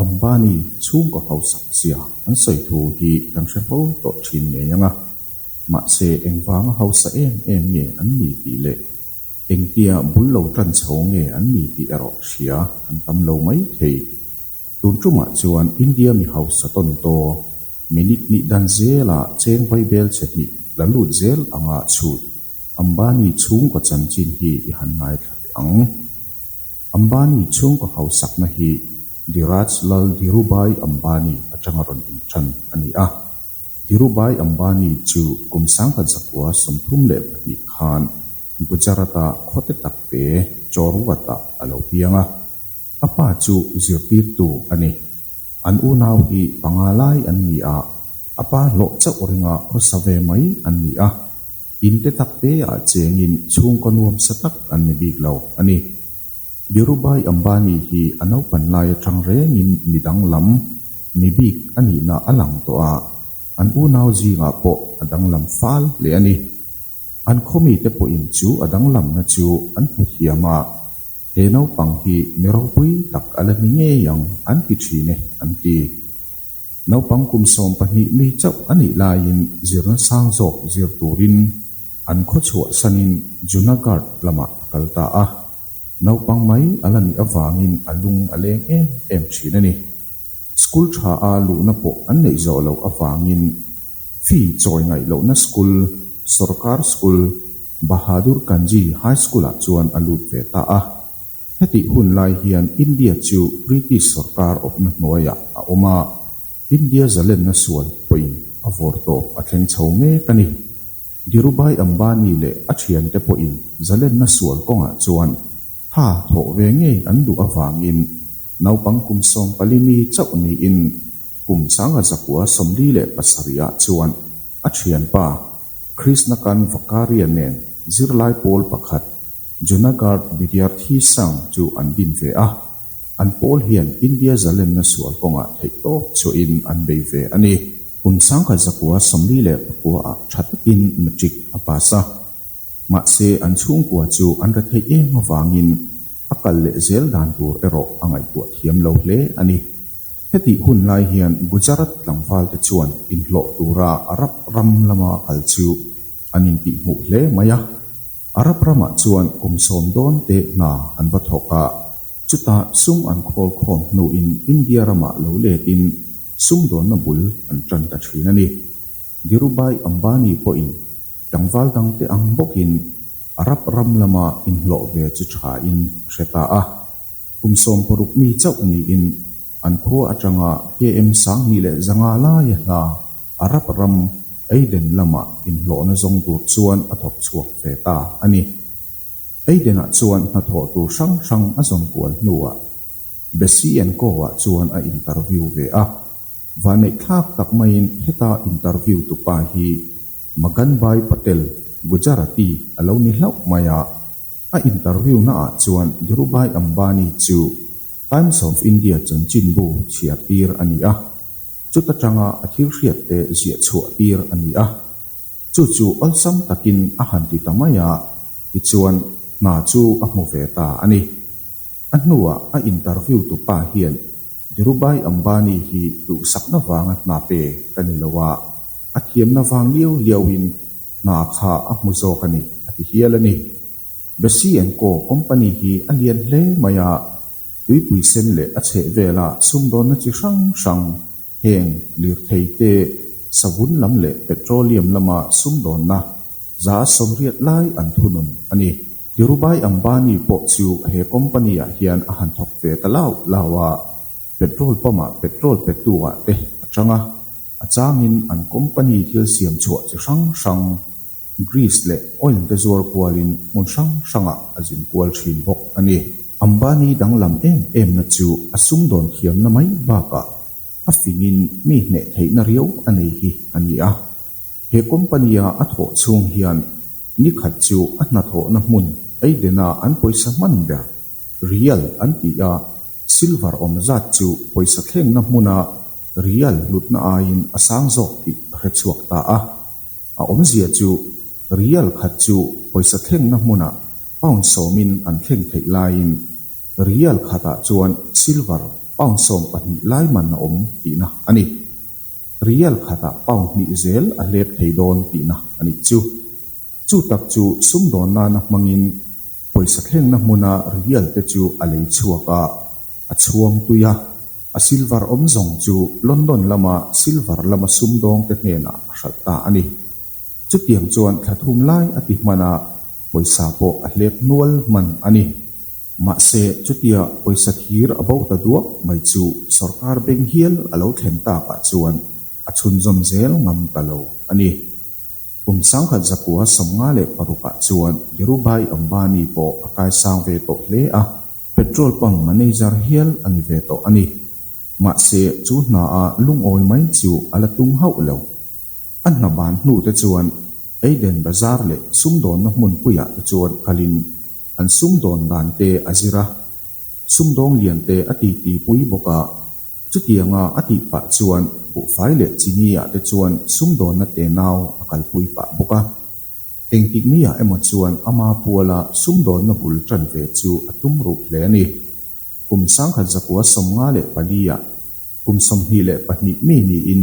Ambani chhungkaw hausak zia an sawi thu hi kan hre fo tawh thin ngei ang a, mahse engvanga hausa em em nge an ni tih leh engtia bul lo tan chho nge an ni tih erawh hria an tam lo mai thei. Tun ṭumah chuan India mi hausa tawn tawh minute ni dan zelah cheng vai bel che hnih la lut zel anga chhut Ambani chhungkaw chanchin hi i han ngaithla leh ang. Ambani chhungkaw hausakna hi Dhiraj Lal Dhirubhai Ambani aṭanga rawn inṭhan a ni a. Dhirubhai Ambani chu kum sangha zakua sawmthum leh pahnih khan Gujarat-a khawte takte Chorwat-ah a lo piang a. Ka pa chu zirtirtu a ni. An unau hi panga lai an ni a, a pa hlawh chauh ringa khawsa ve mai an ni a. In te tak te ah chengin chhungkaw nuam sa tak an ni bik lo a ni. Dhirubhai Ambani hi a naupan lai atang rengin mi danglam, mi bik a nihna a lang tawh a, an unau zingah pawh a danglam fal hle a ni. An khaw mite pawhin chu a danglamna chu an hmu thiam a. He naupang hi mi ropui tak a la ni ngei ang an ti thin e, an ti. Naupang kum sawm pahnih mi chauh a nih laiin zirna sang zawk zir turin an khaw chhuah sanin Junagadh lamah a kal ta a, naupang mai a la nih avangin a lung a leng em em thin a ni. School tha a luhna pawh an neih zawh loh avangin. Fee chawi ngaih lohna school, Sorkar School, Bahadur Ganji High School-ah chuan a lut ve ta a. Hetih hun lai hian India chu British sorkar awpna hnuaiah a awm a, India zalenna sual pawhin a vawr tawp a thleng chho mek a ni. Dhirubhai Ambani leh a thiante pawhin zalenna sual kawngah chuan tha thawh ve ngei an duh avangin naupang kum sawmpali mi chauh niin, Kum sanga zakua sawmli leh pasarih ah chuan a thianpa Krishna Kant Vakkaria nen zirlai pawl pakhat Junagadh Vidyarthi Sangh chu an din ve a, an pawl hian India zalenna sual kawngah theih tawk chuahin an bei ve a ni. Kum sanga zakua sawmli leh pakua ah tha takin matric a pass a. Mahse, an chhungkua chu an re theih em avangin a kal leh zel dan tur erawh a ngaihtuah thiam lo hle a ni. Hetih hun lai hian Gujarat tlangvalte chuan inhlawh tura Arab ram lama kal chu an intih hmuh hle mai a. Arab ramah chuan kum sawm dawn teh hna an va thawk a, chuta sum an khawl khawm hnuin India ramah lo letin sum dawnna bul an tan ta thin a ni. Dhirubhai Ambani pawhin Tlangval dangte ang bawkin a rap ram lama inhlawh ve chi thain hre ta a. Kum sawm paruk mi chauh niin an khua atanga KM Sangni leh Zanga laia hla a rap ram Aiden lama inhlawhna zawng tur chuan a thawk chhuak ve ta a ni. Aidenah chuan hnathawh tur hrang hrang a zawn kual hnuah Bessie and Co-ah chuan a interview ve a. Vaneihthlak tak maiin heta interview tu pa hi Maganbhai Patel, Gujarati, a lo ni hlauh mai a. A interview na ah chuan Dhirubhai Ambani chu Times of India chanchinbu chhiar tir a ni a, chuta tanga a thil hriat te ziah chhuah tir a ni a. Chu chu awlsam takin a han ti ta mai a, tichuan hna chu a hmu ve ta a ni. A hnuah a interview tu pa hian Dhirubhai Ambani hi duhsakna vanga hna pe ka ni lo a, a thiamna vang liau liauin hna kha a hmu zawk a ni, a ti hial a ni. Bessy and Co. Company hi a lian hle mai a, tuipui sen leh a chheh vela sumdawnna chi hrang hrang, heng, lirthei te, savun lam leh petroleum lama sumdawnna, za sawmriat lai an thunun a ni. Dhirubhai Ambani pawh chu he company ah hian a han thawk ve ta lau lau a, petrol pump ah petrol pe tu ah te a chang a, a changin an company thil siam chhuah chi hrang hrang, grease leh oil te zuar kualin hmun hrang hrang ah a zin kual thin bawk a ni. Ambani danglam em emna chu a sum dawn thiamna mai bakah a fingin mi hneh theihna riau a nei hi a ni a. He company-a a thawh chhung hian ni khat chu a hnathawhna hmun Eidena an pawisa hman ber, Rial, an ti a, Silver awm zat chu pawisa thlengna hmuna Rial hlutna aiin a sang zawk tih a hrechhuak ta a. A awmzia chu Rial khat chu pawisa thlengna hmuna Pound sawmin an thleng theih laiin Rial khatah chuan Silver Pound sawm pahnih lai man a awm tihna a ni. Rial khatah pound hnih zel a hlep thei dawn tihna a nih chu. Chu tak chu sum dawn nana hmangin pawisa thlengna hmuna rial te chu a lei chhuak a, a chhuam tui a. A silver awm zawng chu London lama silver lama sum dawng te hnenah a hralh ta a ni. Chutiang chuan thla thum lai a ti hmanah pawisa pawh a hlep nual hman a ni. Mahse, chutia pawisa thir a bauh ta duak mai chu sorkar beng hial a lo thlen takah chuan a chhunzawm zel ngam ta lo a ni. Pumsangkhat zakua sawmnga leh parukah chuan Dhirubhai Ambani pawh a kaisang ve tawh hle a, petrol pump manager hial a ni ve tawh a ni. Mahse, chu hnaah lungawi mai chu a la tum hauh lo. A hna ban hnute chuan Eden Bazar leh sumdawnna hmun puiah te chuan kalin An sumdawn dante a zir a, sumdawng lian te a titi pui bawk a, chutianga a tih pah chuan Buhfai leh Chini-a te chuan sumdawnna te nau a kalpui pah bawk a. Engtik mia emaw chuan ama puala sumdawnna bul tan ve chu a tum ruh hle a ni. Kum sangkhat zakua sawmnga leh pali-a, kum sawmhnih leh pahnih mi niin,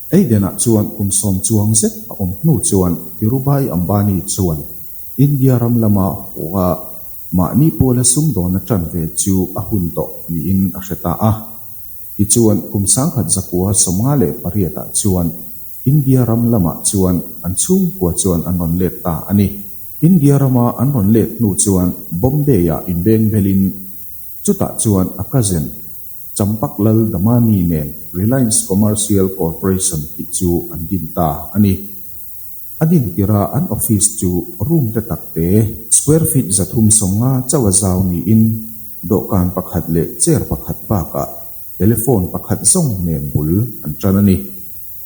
Eidenah chuan kum sawm chuang zet a awm hnu chuan Dhirubhai Ambani chuan India ram lama hua mahni pula sum dawn aṭan ve chu a hun tawh niin a hre ta a. Tichuan kum sangkhat zakua sawmnga leh pariatah chuan India ram lamah chuan an chhungkua chuan an rawn let ta a ni. India rama an rawn let hnu chuan Bombay-ah inbengbelhin Chutah chuan a cousin Champak Lal Damani nen Reliance Commercial Corporation tih chu an din ta a ni. A din tira an office chu room te tak te, square feet za thum sawnga chauh zau niin dawhkan pakhat leh chair pakhat bakah telephone pakhat zawng nen bul an tan a ni.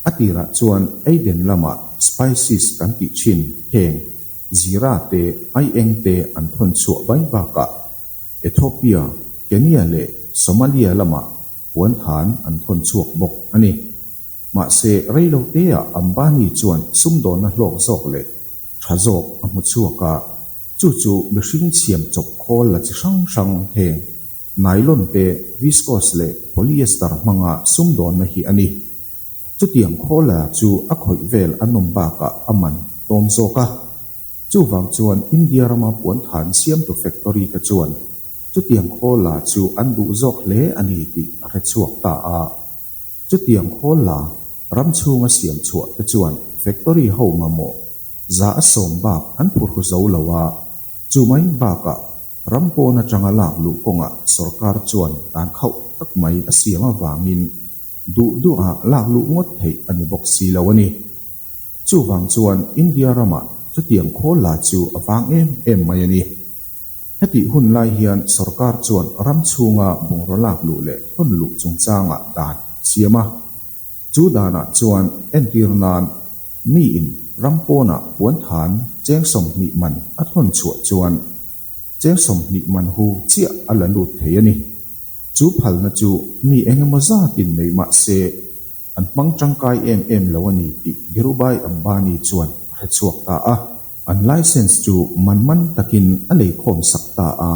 A tirah chuan Aiden lama spices kan tih thin heng, zira te, aieng te an thawn chhuah bai bakah, Ethiopia, Kenya leh Somalia lamah puan than an thawn chhuak bawk a ni. Mahse, reiloteah Ambani chuan sumdawnna hlawk zawk leh tha zawk a hmu chhuak a, chu chu mihring chhiam chawp khawl la chi hrang hrang heng, nylon te, viscose leh polyester hmanga sumdawnna hi a ni. Chutiang khawl la chu a khawih vel a nawm bakah a man tawm zawk a. Chuvang chuan India rama puan than siam tu factory te chuan chutiang khawl la chu an duh zawk hle a ni tih a hre chhuak ta a. Chutiang khawl la ram chhunga siam chhuah te chuan factory ho mamawh za a sawm bak an phu hru zo lo a, chumai bakah ram pawn atanga lak luh kawngah sorkar chuan dan khauh tak mai a siam avangin duh duh a lak luh ngawt theih a ni bawk si lo a ni. Chuvang chuan India ramah chutiang khawl la chu a vang em em mai a ni. Hetih hun lai hian sorkar chuan ram chhunga bungraw lak luh leh thawn luh chungchangah dan a siam a. Chu danah chuan entir nan miin ram pawnah puan than cheng sawmhnih man a thawn chhuah chuan cheng sawmhnih man hu chiah a la lut thei a ni. Chu phalna chu mi eng emaw zatin nei mah se, An hmang tangkai em em lo a ni tih Dhirubhai Ambani chuan a hrechhuak ta a. An licence chu man man takin a lei khawm sak ta a.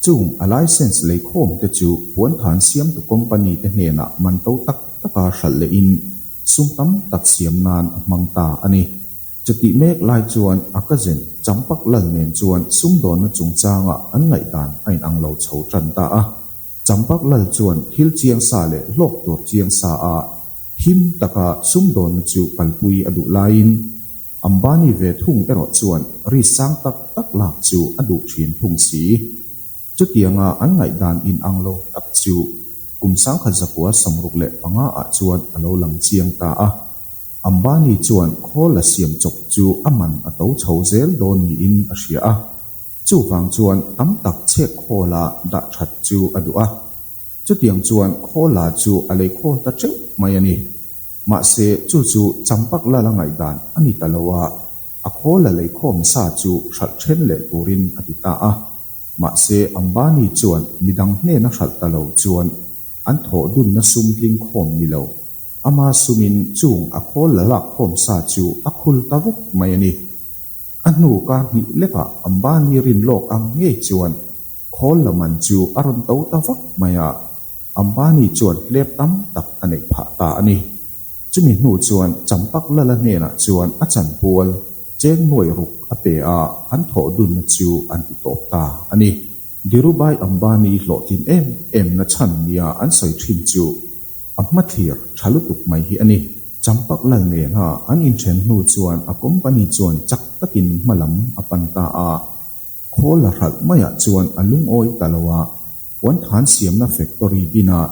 Chung a licence lei khawm te chu puanthan siamtu company te hnenah man to tak taka hralh lehin sum tam tak siam nan a hmang ta a ni. Chutih mek lai chuan a cousin Champak Lal nen chuan sumdawnna chungchangah an ngaihdan a inang lo chho tan ta a. Champak Lal chuan thil chiang sa leh hlawk tur chiang sa a him tak a, sumdawnna chu kalpui a duh laiin Ambani ve thung erawh chuan ri sang tak tak lak chu a duh thin thung si. Chutianga an ngaihdan inang lo tak chu kum sangkhat zakua samruk leh panga ah chuan a lo lang chiang ta a, Ambani chuan khawl a siam chawp chu a man a to chho zel dawn niin a hria a. Chuvang chuan tam tak chhek khawla dah that chu a duh a, chutiang chuan khawl la chu a lei khawl ta ṭeuh mai a ni. Mahse chu chu Champak la la ngaihdan a ni ta lo a, a khawl la lei khawm sa chu hralh ṭhen leh turin a ti ta a. Mahse Ambani chuan midang hnena hralh ta lo chuan an thawhdunna sum tling khawm ni lo. Ama sumin chung a khawl la lak khawm sa chu a khul ta vek mai a ni. A hnuka hnih lepah Ambani rin lawk ang ngei chuan khawl lam an chu a rawn to ta vak mai a, Ambani chuan hlep tam tak a neih phah ta a ni. Chumi hnu chuan Champaklala hnenah chuan a chanpual cheng nuai ruk a pe a, an thawh dunna chu an ti tawp ta a ni. Dhirubhai Ambani hlawhtling em em na chhan nia an sawi thin chu a hma thlir tha lutuk mai hi a ni. Champaklal nena an inthen hnu chuan a company chuan chak takin hma lam a pan ta a, khawl la hralh maiah chuan a lungawi ta lo a, puanthan siamna factory dinah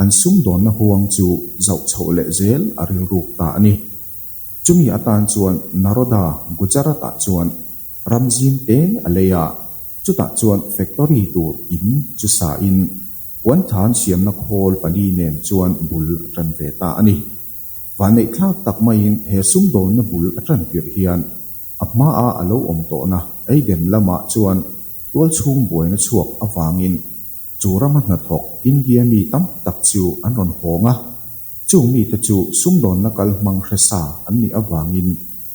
an sum dawnna huang chu zauh chhoh leh zel a rilruk ta a ni. Chumi atan chuan Naroda, Gujarat-ah chuan ram zing te a lei a, chutah chuan factory tur in chu sa in puanthan siamna khawl pali nen chuan bul a tan ve ta a ni. Vaneihthlak tak maiin he sumdawlna bul a tan tirh hian a hmaa a lo awm tawhna Aden lamah chuan tualchhung buaina chhuak avangin Chu rama hnathawk India mi tam tak chu an rawn hawng a, chung mite chu sumdawnna kal hmang hresa an nih avangin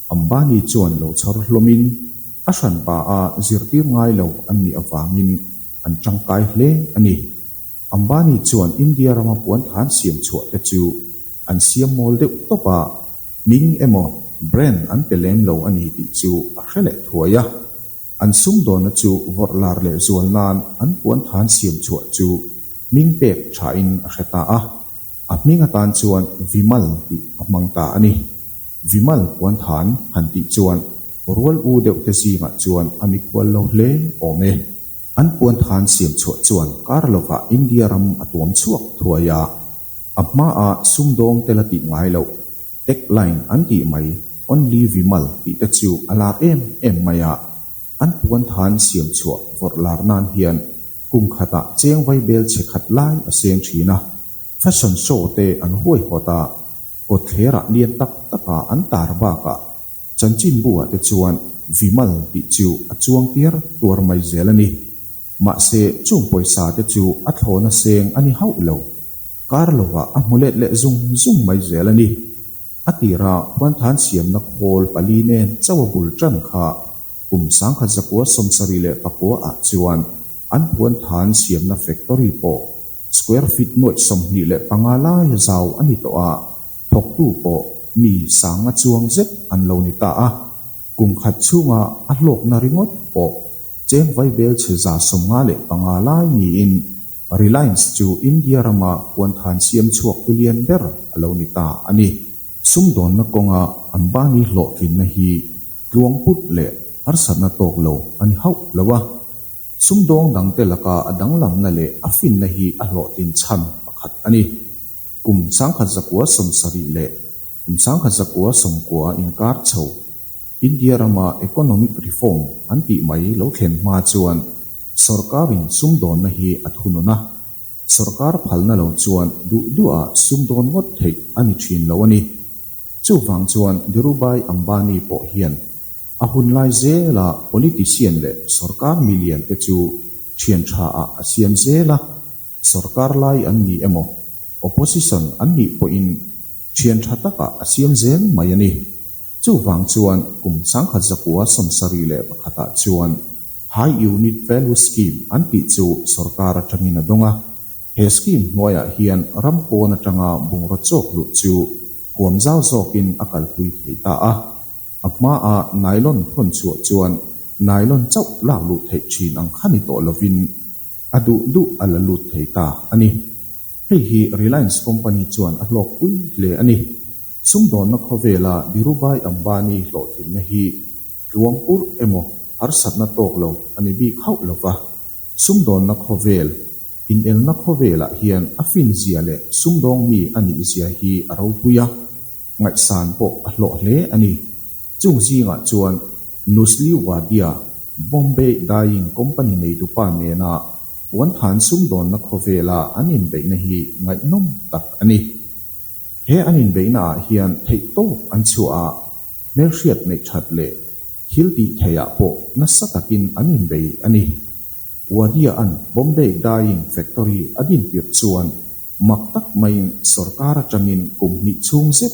Ambani chuan lo chhar hlawmin a hran pa a zirtir ngai lo an nih avangin an tangkai hle a ni. Ambani chuan India rama puan than siam chhuah te chu an siam mawl deuh tawp a, hming emaw brain an pe lem lo a ni tih chu a hre leh thuai a. An sumdawnna chu vawrh lar leh zual nan an puan than siam chhuah chu hming pek thain a hre ta a, a hming atan chuan Vimal tih a hmang ta a ni. Vimal puan than han tih chuan rual u deuh te zingah chuan a mikhual lo hle awm e. An puan than siam chhuah chuan kar lova India ram a tuam chhuak thuai a, a hma a sumdawng te la tih ngai loh. Tech line an tih mai, only Vimal tih te chu a lar em em mai a. An puan than siam chhuah vawrh lar nan hian kum khatah chengvai bel chhe khat lai a seng thin a, fashion show te an huai hawt a, kawt thlerah lian tak taka an tar bakah chanchinbu-ah te chuan Vimal tih chu a chuang tiar tuar mai zel a ni. Mahse, chung pawisa te chu a thlaw na seng a ni hauh lo. Carlova a hmu let leh zung zung mai zel a ni. A tira Puanthan siamna khawl pali nen chauh a bul ṭan kha. Kum sangkhat zakua sawmsarih leh pakua ah chuan an Puanthan siamna factory pawh square feet nuaih sawmhnih leh panga laia zau a ni tawh a, thawktu pawh mi sanga chuang zet an lo ni ta a. Kum khat chhunga a hlawkna ringawt pawh cheng vai bel chhe za sawm nga leh panga lai niin Reliance chu India rama puanthan siam chhuak tu lian ber a lo ni ta a ni. Sumdawnna kawnga Ambani hlawhtlinna hi tluang put leh harsatna tawk lo a ni hauh lo a. Sumdawng dangte laka a danglamna leh a finna hi a hlawhtlin chhan pakhat a ni. Kum sangkhat zakua sawm sarih leh Kum sangkhat zakua sawmkua a inkar chho. India rama economic reform an tih mai lo thlen hma chuan sorkarin sumdawnna hi a thunun a, sorkar phalna lo chuan duh duhah sumdawn ngawt theih a ni thin lo a ni. Chuvang chuan Dhirubhai Ambani pawh hian a hun lai zela politician leh sorkar million te chu thiantha ah a siam zel a. Sorkar lai an nih emaw, Opposition an nih pawhin thian tha takah a siam zel mai a ni. Chuvang chuan kum sangkhat zakua sawmsarih leh pakhatah chuan High Unit Value Scheme an tih chu sorkar atangin a dawng a. He scheme hnuaiah hian ram pawn atanga bungraw chawk luh chu huam zau zawkin a kalpui thei ta a. A hmaa nylon thawn chhuah chuan nylon chauh lak luh theih thin ang kha ni tawh lovin, a duh duh a la lut thei ta a ni. Hei hi Reliance company chuan a hlawk pui hle a ni. Sumdawnna khawvela Dhirubhai Ambani hlawhtlinna hi tluang purh emaw harsatna tawk lo a ni bik hauh lo va. Sumdawnna khawvel, inelna khawvelah hian a finzia leh sumdawng mi a nihzia hi a ropui a. Ngaihsan pawh a hlawh hle a ni. Chung zingah chuan Nusli Wadia Bombay Dyeing Company neidupa nena puanthan sumdawnna khawvela an inbeihna hi ngaihnawm tak a ni. He an inbeihna ah hian theih tawp an chhuah a, hmelhriat neih that leh thil tih theiah pawh nasa takin an inbei a ni. Wadia-a'n Bombay Dyeing Factory a dintir chuan Mak tak maiin sorkar atangin kum hnih chhung zet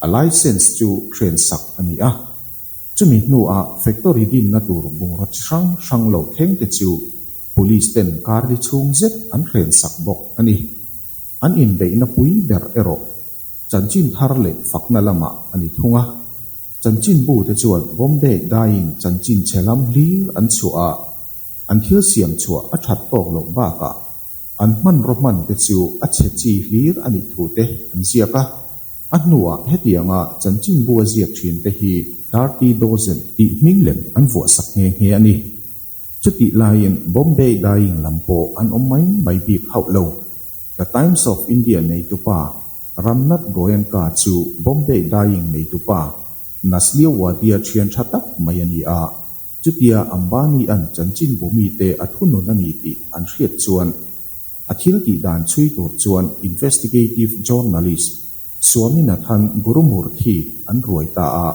a licence chu hrian sak a ni a. Chumi hnuah factory dinna tur bungraw chi hrang hrang lo thleng te chu Police ten kardi chhung zet an hrian sak bawk a ni. An inbeihna pui ber erawh chanchin thar leh fakna lamah a ni thung a. Chanchin bu te chuan Bombay Dyeing chanchin chhe lam hlir an chhuah a, an thil siam chhuah a that tawk loh bakah An hmanraw hman te chu a chhe chi hlir a nih thu te an ziak a. A hnuah hetianga chanchinbu a ziak thin te hi Thirty Dozen. Tih hming lem an vuah sak nghe nghe a ni. Chutih laiin Bombay Dyeing lam pawh an awm mai mai bik hauh lo. The Times of India neitupa Ramnath Goenka chu Bombay Dyeing neitupa Naslio Wadia thian tha tak mai a ni a. Chutia Ambania'n chanchin bu mite a thunun a ni tih an hriat chuan a thil tih dan chhui tur chuan Investigative Journalist Swaminathan Gurumurthy an ruai ta a,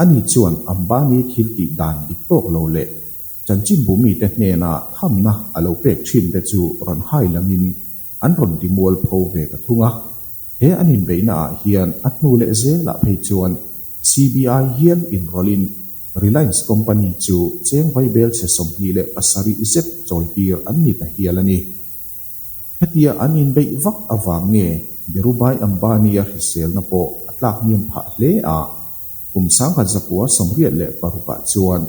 ani chuan Ambani thil tih dan dik tawk lo leh chanchin bu mite hnena thamna a lo pek thin te chu rawn hailamin an rawn ti mual pho ve ta thung a, he an inbeihna ah hian a hnu leh zelah phei chuan CBI hial inrawlin Reliance company chu chengvai belchhe sawmhnih leh pasarih zet chawitir an ni ta hial a ni. Hetia an inbeih vak avang nge Dhirubhai Ambani-a hriselna pawh a tlak hniam phah hle a? Kum sangha Zapua sawmriat leh paruk-ah chuan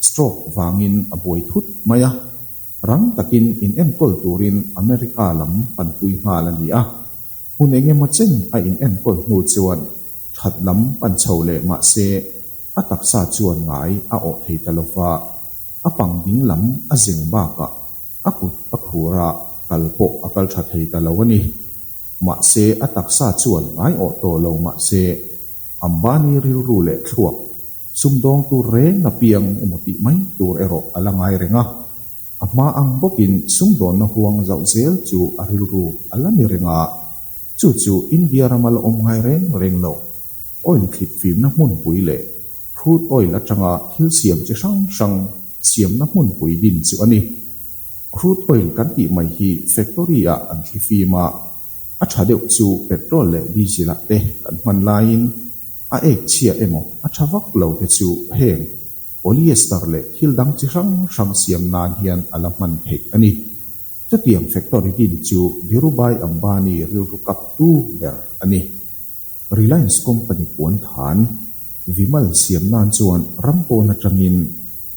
stroke vangin a buai thut mai a, rang takin inenkawl turin America lam panpui nghal a ni a. Hun eng emaw chen a inenkawl hnu chuan that lam pan chho leh mahse, a taksa chuan ngai a awh thei ta lo va, a pang ding lam a zeng bakah a kut a khur a kal pawh a kal tha thei ta lo a ni. Mahse a taksa chuan ngai awh tawh lo mah se, Ambani rilru leh thluak, sumdawng tur reng apiang emaw tih mai tur erawh a la ngai reng a. A hma ang bawkin sumdawnna huang zauh zel chu a rilru a la ni reng a, chu chu India rama la awm ngai reng reng lo. Oil thlip fimna hmunpui leh crude oil atanga thil siam chi hrang hrang siamna hmunpui din chu a ni. Crude oil kan tih mai hi factory ah an thli fim a, a tha deuh chu petrol leh diesel ah te kan hman laiin a ek chhia emaw a tha vak lo te chu heng. polyester leh thil dang chi hrang hrang siam nan hian a la hman theih a ni. Chutiang factory din chu Dhirubhai Ambani rilru kaptu ber a ni. Reliance company puan than vimal siam nan chuan ram pawn atangin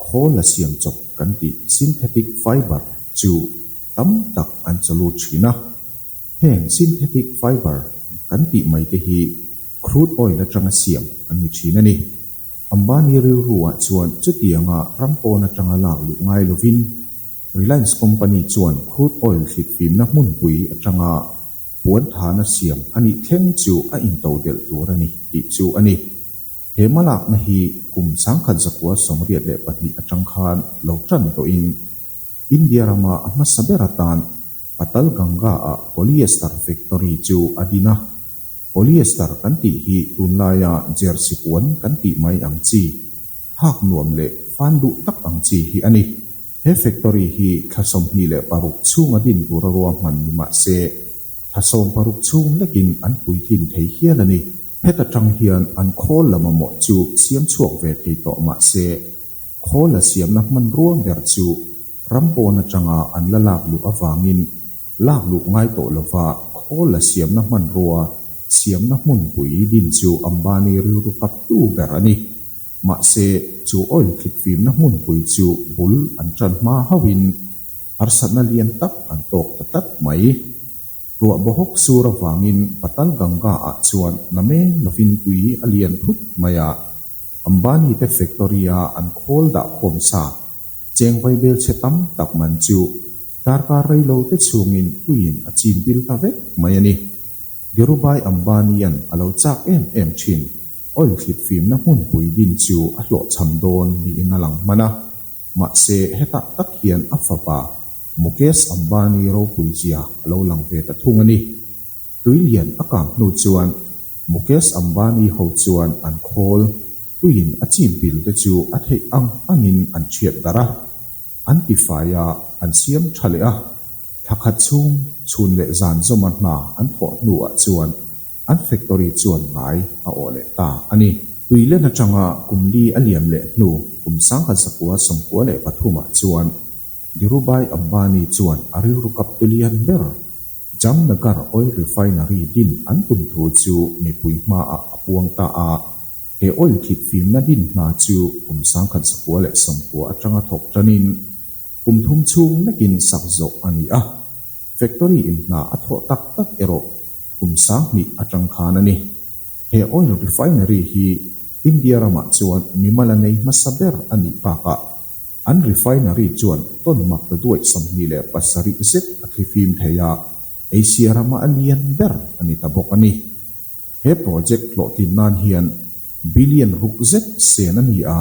khawl a siam chawp kan tih synthetic fibre chu tam tak an chaw lut thin a. Heng synthetic fibre kan tih mai te hi crude oil atanga siam an ni thin a ni. Ambani rilruah chuan chutianga ram pawn atanga lak luh ngai lovin Reliance company chuan crude oil hlitfimna hmunpui atanga puan thana siam a nih thleng chu a into delh tur a ni tih chu a ni. He hma lakna hi kum changkhat zakua sawmriat leh pahnih atang khan lo tan tawhin India rama a hmasa ber atan, Patal Ganga ah polyester factory chu a din a. Polyester kan tih hi tunlaia jersey puan kan tih mai ang chi, hak nuam leh fan duh tak ang chi hi a ni. He factory hi thla sawmhnih leh paruk chhung a din tur a ruahman ni mah se, thla sawm paruk chhung lekin an puitlin thei hial a ni. Phet atang hian an khawl lam amaw chu siam chhuak ve thei tawh mah se, khawl la siamna hmanrua ber chu, ram pawn atanga an la lak luh avangin lak luh ngai tawh lova khawl la siamna hmanrua siamna hmunpui din chu Ambani rilru kaptu ber a ni. Mahse, chu oil thlipfimna hmunpui chu bul an ṭan hma hauhin harsatna lian tak an tawk ta tlat mai. Ruah bawhawk sur avangin Patal Ganga ah chuan Namen lovin tui a lian thut mai a. Ambani te factory a an khawl dah khawm sa. Cheng vai belchhe tam tak man chu darkar rei lo te chungin tuiin a chin bil ta vek mai a ni. Dhirubhai Ambanian a lo chak em em thin. Oil thlit fimna hmun pui din chu a hlawhchham dawn niin a lang hman a. Mahse hetah tak hian a fapa. Mukesh Ambani ropui zia a lo lang ve ta thung a ni. Tui lian a kang hnu chuan Mukesh Ambani ho chuan an khawl puiin a chip bil te chu a theih ang angin an chhiat darh a, an tifaia an siam tha leh a. Thla khat chhung chhun leh zan zawma hna an thawh hnuah chuan an factory chuan ngai a awh leh ta a ni. Tui lian atanga kum li a liam leh hnu kum sangha zakua sawmkua leh pathumah chuan Dhirubhai Ambani chuan a rilru kap tulian ber. Jamnagar Oil Refinery din an tum thu chu mipui hmaah a puang ta a. He oil thit fimna din hna chu kum sangkhat sakhua leh sawmkhua atanga thawk tanin kum thum chhung nakin sak zawh a ni a. Factory in hna a thawh tak tak erawh kum sang hnih atang khan a ni. He oil refinery hi India ramah chuan mi mala nei hmasa ber a nih bakah, An refinery chuan Ton Magdaduai sawmhnih leh pasarih zet a thli fim thei a, Asia rama a lian ber a ni ta bawk a ni. He project hlawhtlin nan hian billion ruk zet sen a ni a,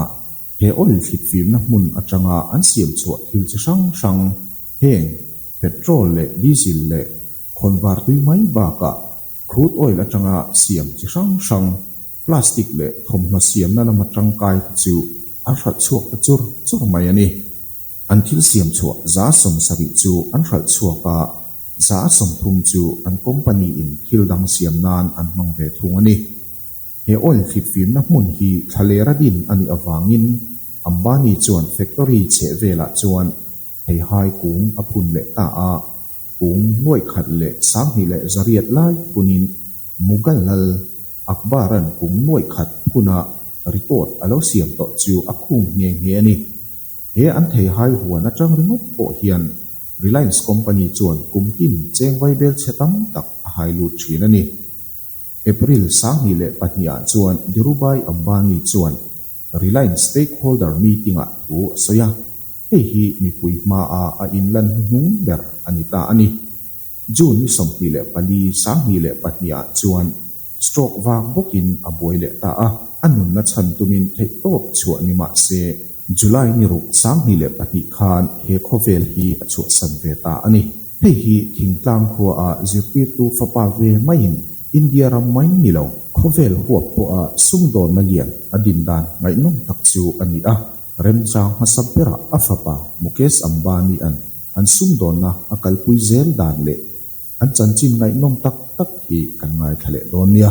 he oil thlitfimna hmun atanga an siam chhuah thil chi hrang hrang heng petrol leh diesel leh khawnvar tui mai bakah crude oil atanga siam chi hrang hrang, Plastic leh thawmhnaw siamna lama tangkai te chu an hralh chhuak ta chur chur mai a ni. An thil siam chhuah za sawm sarih chu an hralh chhuak a, za sawm thum chu an company in thil dang siam nan an hmang ve thung a ni. He oil hlitfimna hmun hi thlaler a din a nih avangin Ambani chuan factory chheh velah chuan Theihai kung a phun leh ta a, kung nuaih khat leh sanghnih leh zariat lai phunin Mughallal Akbar-a'n kung nuaih khat phuna report a lo siam tawh chu a khum nghe nghe a ni. He an theihai huan atang ringawt pawh hian Reliance Company chuan kum tin chengvai belchhia tam tak a hai lut thin a ni. April sanghnih leh pahnih ah chuan Dhirubhai Ambani chuan Reliance Stakeholder Meeting ah thu a sawi a, hei hi mipui hmaa a inlan hnuhnung ber a ni ta a ni. June ni sawmhnih leh pali, sanghnih leh pahnih ah chuan stroke vak bawkin a buai leh ta a, a nunna chhan tumin theih tawp chhuah ni mah se, July ni ruk sanghnih leh pahnih khan he khawvel hi a chhuahsan ve ta a ni. Hei hi thingtlang khua ah zirtirtu fapa ve maiin India ram mai ni lo khawvel huap pawha sumdawnna lian a din dan ngaihnawm tak chu a ni a. Remchang hmasa bera a fapa Mukesh Ambani-a'n an sumdawnna a kalpui zel dan leh an chanchin ngaihnawm tak tak hi kan ngaithla leh dawn nia.